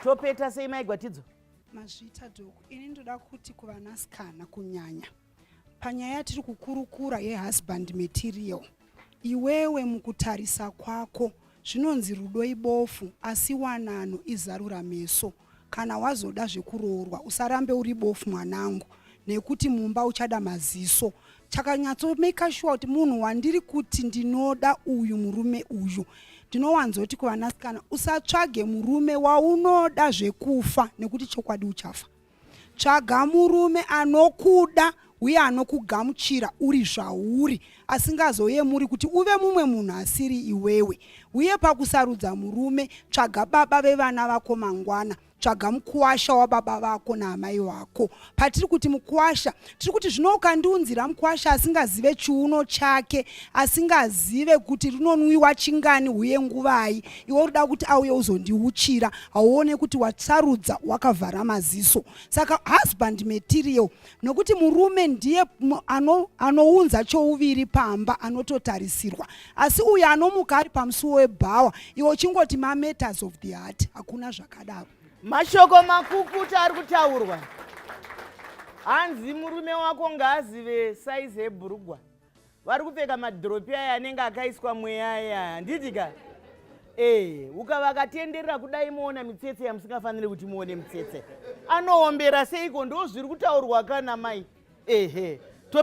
topeta sei mai gwatidzo mazvita doko ini ndoda kuti kuvanasikana kunyanya panyaya yatiri kukurukura yehusband material iwewe mukutarisa kwako zvinonzi rudo ibofu asi wanano izarura meso kana wazoda zvekuroorwa usarambe uri bofu mwanangu nekuti mumba uchada maziso chakanyatso maker sure kuti munhu wandiri kuti ndinoda uyu murume uyu ndinowanzoti kuvanasikana usatsvage murume waunoda zvekufa nekuti chokwadi uchafa tsvaga murume anokuda uye anokugamuchira uri zvauri asingazoyemuri kuti uve mumwe munhu asiri iwewe uye pakusarudza murume tsvaga baba vevana vako mangwana tsvaga mukwasha wababa vako naamai wako patiri kuti mukwasha tiri kuti zvino ukandiunzira mukwasha asingazive chiuno chake asingazive kuti rinonwiwa chingani uye nguvai iwe urida kuti auye uzondiuchira hauone kuti watsarudza wakavhara maziso saka husband material nokuti murume ndiye ano, anounza chouviri pamba anototarisirwa asi uyo anomuka ari pamusuwo webhawa iwo uchingoti mametas of the heart hakuna zvakadaro mashoko makukuta ari kutaurwa hanzi murume wako ngaazive saizi ebhurugwa vari kupfeka madhiropi aya anenge akaiswa mweya aya handiti ka ee ukavakatenderera kudai moona mitsetse yamusingafaniri kuti muone mitsetse anoombera seiko ndo zviri kutaurwa kana mai ehe